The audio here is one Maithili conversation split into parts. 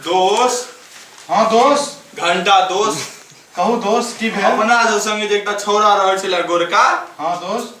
दोस्त हाँ दोस्त घंटा दोस्त कहू दोस्त की भेल अपना जो संगे जे एकटा छौड़ा रहल छलै गोरका हाँ दोस्त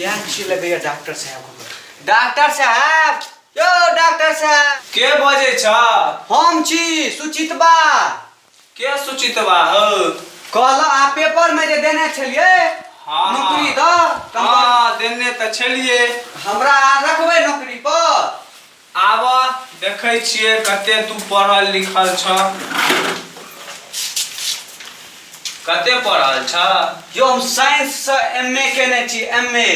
या छिले भैया डॉक्टर साहब को डॉक्टर साहब यो डॉक्टर साहब के बजे छ हम छी सुचितबा के सुचितबा हो कहल आ पेपर में जे देने छलिए हाँ। नौकरी द हाँ देने त छलिए हमरा रखबे नौकरी पर आबऽ देखै छियै कते तू पढ़ल लिखल छ कते पढ़ल छ यो हम साइंस से एमए केने छी एमए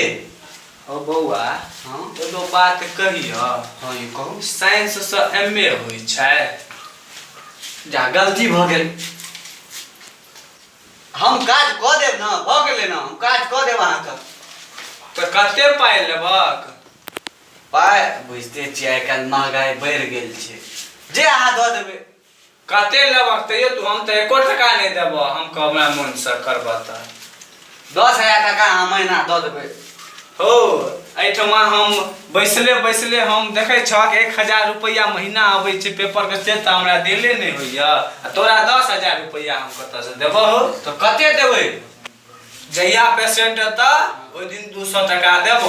ओ बौआ हँ एगो बात कहिय हँ यौ कहू साइंस से एमए होइ छै जा गलती भऽ गेल हम काज कऽ देब ने भऽ गेलै ने हम काज कऽ देब अहाँके तऽ कते पाइ लेबक पाइ बुझिते छियै आइ काल्हि महगाइ बढ़ि गेल छै जे अहाँ दऽ देबै कते लेबक तैयो तू हम तऽ एको टका नहि देबह हम कहबै मोनसँ करबह तऽ दस हजार टका अहाँ महीना दऽ देबै हो एहिठमा हम बैसले बैसले हम देखै छहक एक हजार रुपैआ महीना अबै छै पेपरके से तऽ हमरा देले नहि होइए आ तोरा दस हजार रुपैआ हम कतऽसँ देबह हो तऽ कते देबै जहिया पेशेंट एता ओहि दिन दू सौ टका देब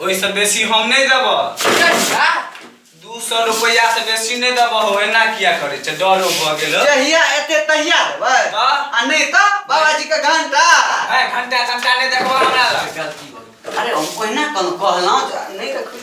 ओहिसँ बेसी हम नहि देब दू सौ रुपैया से बेसी नहि देब हो एना किया करै छै डरो भऽ गेल हो। जहिया एते तहिया देबै तऽ? आ नहि तऽ बाबाजी के घंटा ए, घंटा घंटा नहि देखबा हमरा लग अरे हम ओहिना कहलहुँ कहलहुँ जे नहि देखबै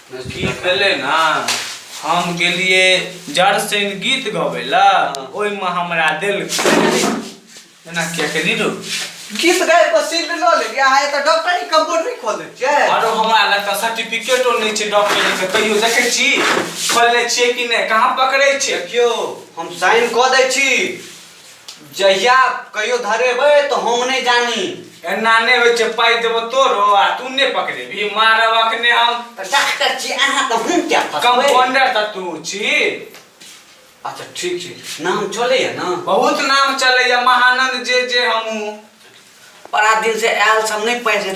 गीत भेलै ने हम गेलियै जड़सैन गीत गबै लए ओहिमे हमरा देलकै एना किया केली रो गीत गाय पर सीट लऽ लेलियै अहाँ एतऽ डॉक्टरी कम्बो नहि खोलै छियै आरो हमरा लग तऽ सर्टिफिकेटो नहि छै डॉक्टरी के कहियो देखै छी खोलने छियै कि नहि कहाँ पकड़ै छै देखियौ हम साइन कऽ दै छी जहिया कहियो धरेबै तऽ हम नहि जानी एना नहि होइ छै पाइ देबो तोरो आ तू नहि पकड़ेबी मारब अखने हम तऽ डॉक्टर छी अहाँ तऽ हम क्या फसबै कंपाउंडर तऽ तू छी अच्छा ठीक छै नाम चलैए ने बहुत नाम चलैया महानंद जे जे हमहूँ बड़ा दिन से आयल सब नहि पाइ छै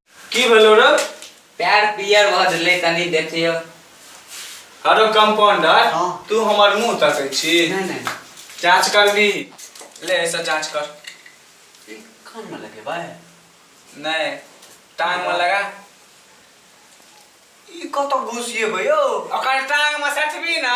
की भेलो रे पैर पियर भऽ गेलै कनी देखियो हरो कंपाउंडर हाँ। तू हमर मुंह तकै छी नहीं नहीं जांच करबी ले ऐसा जांच कर ई कान में लगे भाई नहीं टांग में लगा ई कत घुसिए भयो ओकर टांग में सटबी ना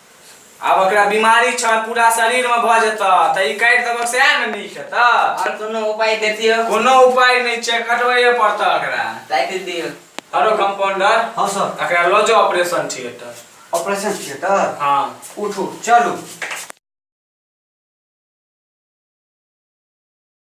आब एकरा बीमारी छ पूरा शरीर में भ जत त ई काट देबक से न नीक हेत और कोनो उपाय दे दियो कोनो उपाय नै छै कटबैए पड़त एकरा दे दे दियो हरो कंपाउंडर हां सर एकरा ल जाओ ऑपरेशन थिएटर ऑपरेशन थिएटर हां उठू चलू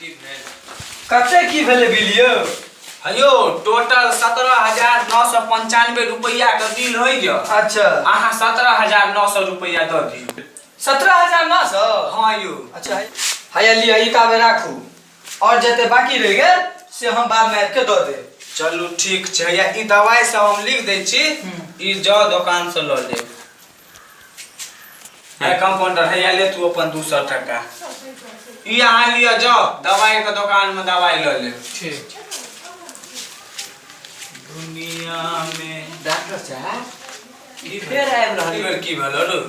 कते की भेलै बिल यौ हयो टोटल सत्रह हजार नौ सौ पंचानवे रुपया के बिल होइ गया अच्छा अहाँ सत्रह हजार नौ सौ रुपया दऽ दियौ सत्रह हजार नौ सौ हाँ यौ अच्छा हैया लिअ ई ताबे राखू और जते बाकी रह गेल से हम बाद में आबि के दऽ देब चलू ठीक छै हैया ई दवाई सब हम लिख दै छी ई जाउ दोकान से लऽ लेब है कंपाउंडर है या ले तू अपन दू सौ टका ई अहाँ लिअ जाओ दवाई के दुकान में दवाई लऽ ले ठीक दुनिया में डॉक्टर साहब की फेर आबि रहल ई बेर की भेलो रू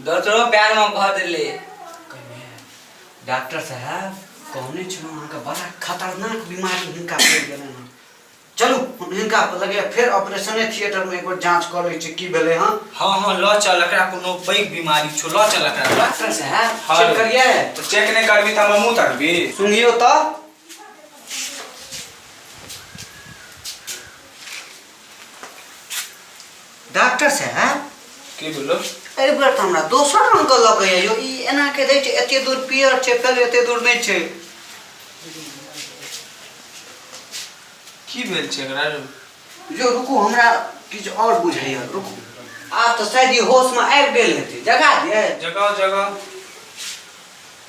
दोसरो पैर में भऽ देले डॉक्टर साहब कहने छलहुँ अहाँके बड़ा खतरनाक बीमारी हुनका पड़ि गेलनि हँ चलू हम हिनका लगे फेर ऑपरेशने थिएटरमे एक बेर जाँच कऽ लै छी की भेलै हँ हँ हँ लऽ चल एकरा कोनो पैघ बीमारी छौ लऽ चल एकरा डॉक्टर साहब हँ। चेक करिए तऽ चेक नहि करबी तऽ हमर मुँह तकबी सुनियो तऽ डॉक्टर साहब की बोलो एहि बेर तऽ हमरा दोसर रंग के लगे यौ ई एना के दै छै एते दूर पियर छै पहले एते दूर नहि छै की भेल छै एकरा रे? यौ रुकू हमरा किछु और बुझाइया रुकू आब तऽ शायद ई होश में आबि गेल हेतै जगा दियै जगाओ जगाओ